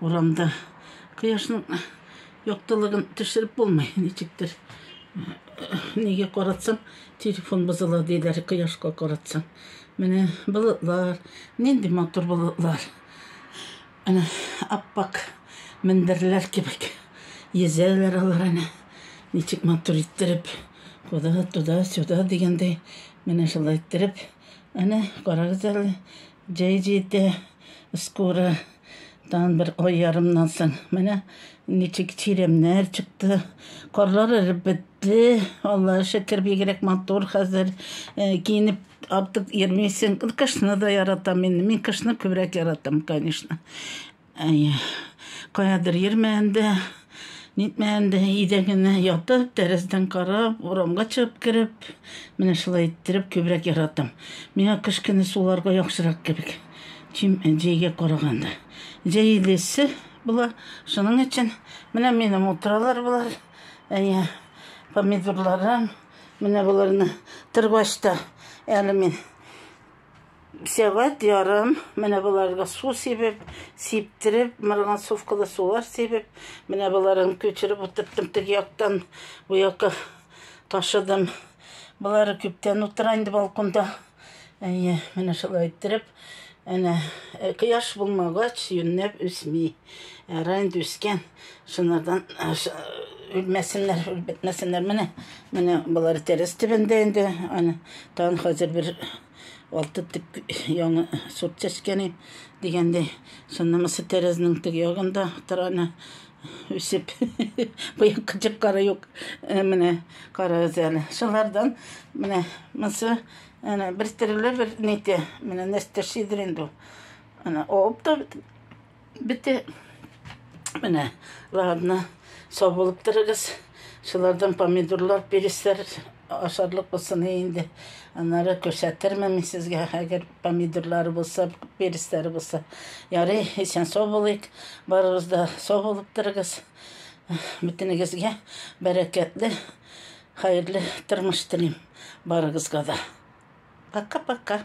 Урамда кояшның яктылыгын төшереп булмый, ничектер. Нигә каратсам, телефон бозыла диләр, кояшка каратсам. Менә болытлар, нинди матур болытлар. Әнә аппак мендерләр кебек йөзәләр алар әнә. Ничек матур иттереп, куда, туда, сюда дигәндәй, менә шулай иттереп. Әнә карагыз әле, Җәй җитә, скоро, тагын бер ай ярымнан соң. Менә ничек чирәмнәр чыкты. Карлар эреп бетте. Аллага шөкер, бигрәк матур хәзер. Э, киенеп артык йөрмисең. Кышны да яратам мин. Мин кышны күбрәк яратам, конечно. Әйе. Каядыр йөрмәгәндә, нитмәгәндә, өйдә генә ятып, тәрәздән карап, урамга чыгып кереп, менә шулай иттереп күбрәк яратам. Миңа кыш көне суларга яхшырак кебек, чем җәйгә караганда. Җәй инде эссе була, шуның өчен менә минем утыралар болар. Әйе, помидорларым, менә боларны тырбачта әле мин Сәгать ярым менә боларга су сибеп, сиптереп, марганцовкалы сулар сибеп, менә боларын күчереп утырттым теге яктан бу якка ташыдым. Болары күптән утыра инде балконда. Әйе, менә шулай иттереп, әнә э, кояш булмагач, юннәп үсми. Әра инде үскән. Шунардан э, үлмәсеннәр, үлбетмәсеннәр. Менә, менә болар тәрәз төбендә инде. Аны тагын хәзер бер Алты тик яңа сорт чәчкәне дигәндә, шуннысы тәрәзнең тег ягында тораны үсеп. Быел кычык кары юк. Э, менә карагыз әле. Шулардан менә монсы әнә бер төрле бер нитә. Менә нәрсә шидер инде. Ана оп та Бите. Менә, ладно, сау булып торыгыз. Шулардан помидорлар, переслар ашарлык булсын инде. Аннары күрсәтермен мин сезгә, әгәр помидорлары булса, переслары булса. Ярый, исән сау булыйк. Барыгыз да сау булып торыгыз. Бөтенегезгә бәрәкәтле, хәерле тормыш телим барыгызга да. Пока-пока.